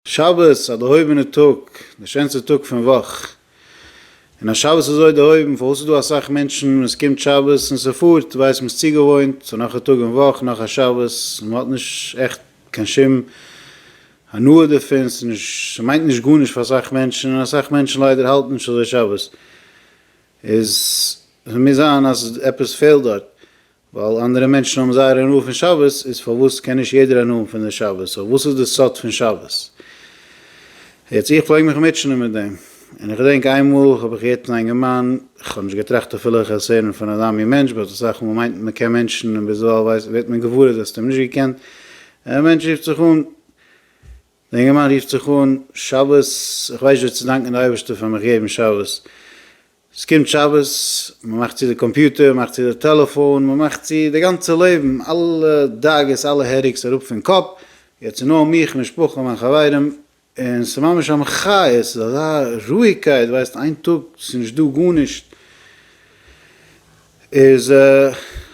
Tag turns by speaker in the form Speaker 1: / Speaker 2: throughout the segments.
Speaker 1: שבת, א דערהויבענע טאג, די שענסטע טאג פון וואך, און אז שבת איז אזוי דערהויבן, פארוואס איז דא אסאך מענטשן ווען עס קומט שבת און ס'פארט, ווייסט מען ס'צוגעוואוינט, ס'איז נאך א טאג אין וואך, נאך א שבת, און מ'האט נישט עכט קיין שום הנאה דערפון, ס'איז נישט, ס'מיינט נישט גארנישט פאר אסאך מענטשן, און אסאך מענטשן ליידער האלטן נישט אזוי שבת, איז, ס'מוז זיין אז עפעס פעלט דארט, ווייל אנדערע מענטשן האבן זייער הנאה פון שבת, איז פארוואס קען נישט יעדער הנאה פון די שבת? סאו וואס איז די סוד פון שבת? יעצט איך פלעג מיך מוטשענען מיט דעם, און איך געדענק איינמאל האב איך געהערט פון א אינגערמאן, איך האב נישט געטראכט אפילו איך וועל עס הערן פון א דאמי מענטש, באט אסאך מאל מיינט מען מען קען מענטשן און ביזדערווייל ווערט מען געוואר אז דו האסט אים נישט געקענט, דער מענטש רופט זיך אן, דער אינגערמאן רופט זיך אן, שבת, איך ווייס נישט ווי צו דאנקען די אייבערשטער פאר מיך געבן שבת, ס'קומט שבת, מ'מאכט צו די קאמפיוטער, מ'מאכט צו די טעלעפאון, מ'מאכט צו די גאנצע לעבן, אלע דאגות, אלע העדעיקס אראפ פון קאפ, יעצט איז נאר מיך, משפחה, מיין חברים, און ס'איז ממש א מחיה, ס'איז אזא רואיגקייט, ווייסט איין טאג ס'איז נישט דא גארנישט, איז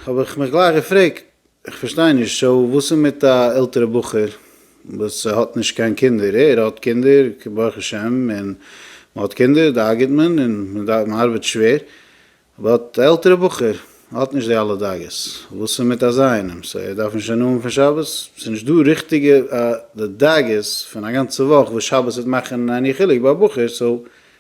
Speaker 1: האב איך מיך גלייך געפרעגט, איך פארשטיי נישט, סאו וואס איז מיט א עלטערע בחור וואס האט נישט קיין קינדער, ער האט קינדער ברוך השם און מען האט קינדער דאגה'ט מען און מען ארבעט שווער, באט א עלטערע בחור האט נישט די אלע דאגות, וואס איז מיט אזא איינעם, סאו ער דארף נישט א נאמען פון שבת? ס'איז נישט דא ריכטיגע די דאגות פון א גאנצע וואך וואס שבת וועט מאכן עני חילוק ביי א בחור, סאו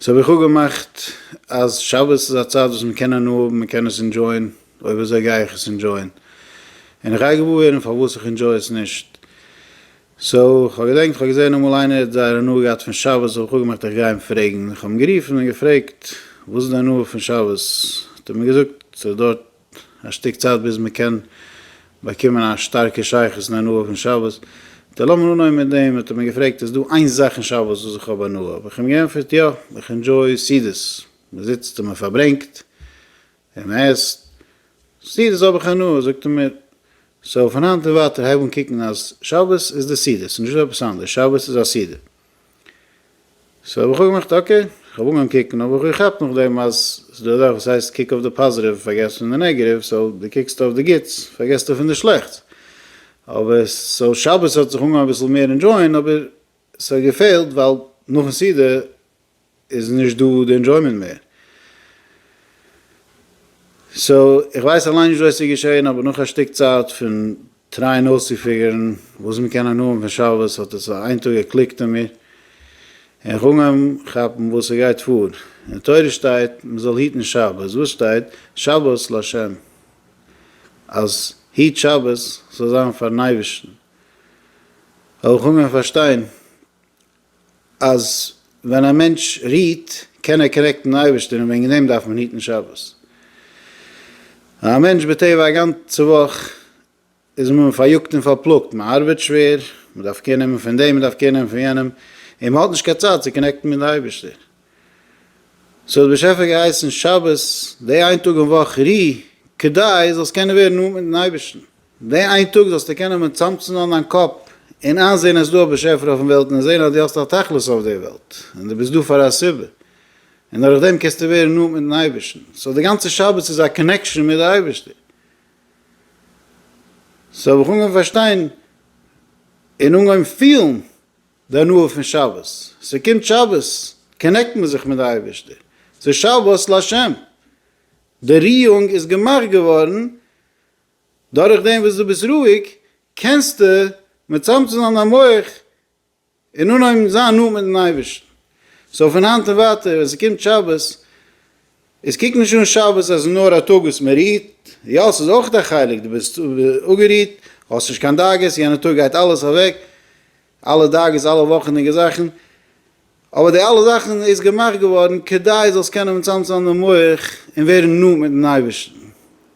Speaker 1: סאו האב איך אפגעמאכט אז שבת איז א צייט וואס מ'קען הנאה האבן, מ'קען עס אינדזשויען, אויב אזוי גיי איך עס אינדזשויען, און איך גיי געוואר ווערן פארוואס איך אינדזשוי עס נישט. סאו כ'האב געדענקט כ'האב געזען אמאל איינער האט זייער הנאה געהאט פון שבת, האב איך אפגעמאכט איך גיי אים פרעגן, איך האב אים גערופן און געפרעגט וואס איז די הנאה פון שבת, האט ער מיר געזאגט ס'איז דא א שטיק צייט ביז מען קען באקומען א שטארקע שייכות און הנאה פון שבת, ט לאמיר אנהויבן מיט דעם, האט ער מיר געפרעגט איז דא איין זאך אין שבת וואס איך האב הנאה, האב איך אים געענטפערט יא, איך ענדזשוי סעודות, מען זיצט און מען פארברענגט און מען עסט, סעודות האב איך הנאה, זאגט ער מיר סאו פון היינט און ווייטער הייב אן קוקן אז שבת איז די סעודות, נישט עפעס אנדערש, שבת איז א סעודה. סאו האב איך אויך געמאכט אקעי, איך האב אנגעהויבן קוקן, אבער איך האב געכאפט נאכדעם אז ס'איז דא א זאך וואס הייסט קוק אויף די פאזיטיוו פארגעס פון די נעגעטיוו, סאו דו קוקסט אויף די גוטס פארגעסטו פון די שלעכטס, אבער סאו שבת האט זיך אנגעהויבן אביסל מער ענדשויען אבער ס'האט געפעלט ווייל נאכן סעודה איז נישט דא די ענדזשוימענט מער. סאו איך ווייס אליין נישט וואס איז געשען אבער נאך א שטיק צייט פון טרייען אויסצופיגערן וואס מען קען הנאה האבן פון שבת האט עס איין טאג געקליקט אין מיר און איך אנגעהויבן כאפן וואס עס גייט פאר. אין תורה שטייט מען זאל היטן שבת, וואס שטייט? שבת להשם. אז היט שבת זאל זיין פארן אייבערשטן. האב איך אנגעהויבן פארשטיין אז ווען א מענטש רוהט קען ער קאנעקטן מיטן אייבערשטען און וועגן דעם דארף מען היטן שבת. א מענטש בטבע א גאנצע וואך איז מען פאריאגט און פארפלאגט, מען ארבעט שווער, מען דארף קער נעמען פון דעם, מען דארף קער נעמען פון יענעם, און מען האט נישט קיין צייט צו קאנעקטן מיטן אייבערשטער. סאו האט באשעפער געהייסן שבת, די איין טאג אין וואך רו כדי זאלסט קענען ווערן נאנט מיטן אייבערשטן. די איין טאג זאלסטו קענען מיט צאמצונאן דיין קאפ און איינזען אז דא א באשעפער אויפן וועלט און זען אז דו האסט א תכלית אויף די וועלט און דו ביסט דא פאר א סיבה און דורך דעם קענסטו ווערן נאנט מיטן אייבערשטן סאו די גאנצע שבת איז א קאנעקשאן מיט די אייבערשטער סאו האב איך אנגעהויבן פארשטיין און אנגעהויבן פילן די הנאה פון שבת ס'קומט שבת קאנעקט מען זיך מיט די אייבערשטער ס'שבת להשם די ריאונג איז געמאכט געווארן דורך דעם וואס דו ביסט רואיג קענסטו מצמצם זיין דיין מח און אנהויבן זיין נאנט מיט'ן אייבערשטן. סאו פון היינט און ווייטער ווען ס'קומט שבת, איז קוק נישט אן שבת אז ס'איז נאר א טאג וואס מ'רוהט, יא ס'איז אויך א חלק, דו ביסט אפגערוהט, האסט נישט קיין דאגות, יענע טאג גייט אלעס אוועק, אלע דאגות, אלע וואכענדיגע זאכן, אבער די אלע זאכן איז געמאכט געווארן כדי זאלסט קענען מצמצם זיין די מח און ווערן נאנט מיטן אייבערשטן,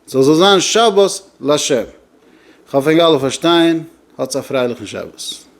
Speaker 1: ס'זאל זאל זיין שבת לשם, כ'האף ענק אלע פארשטייען, האטס א פרייליכן שבת.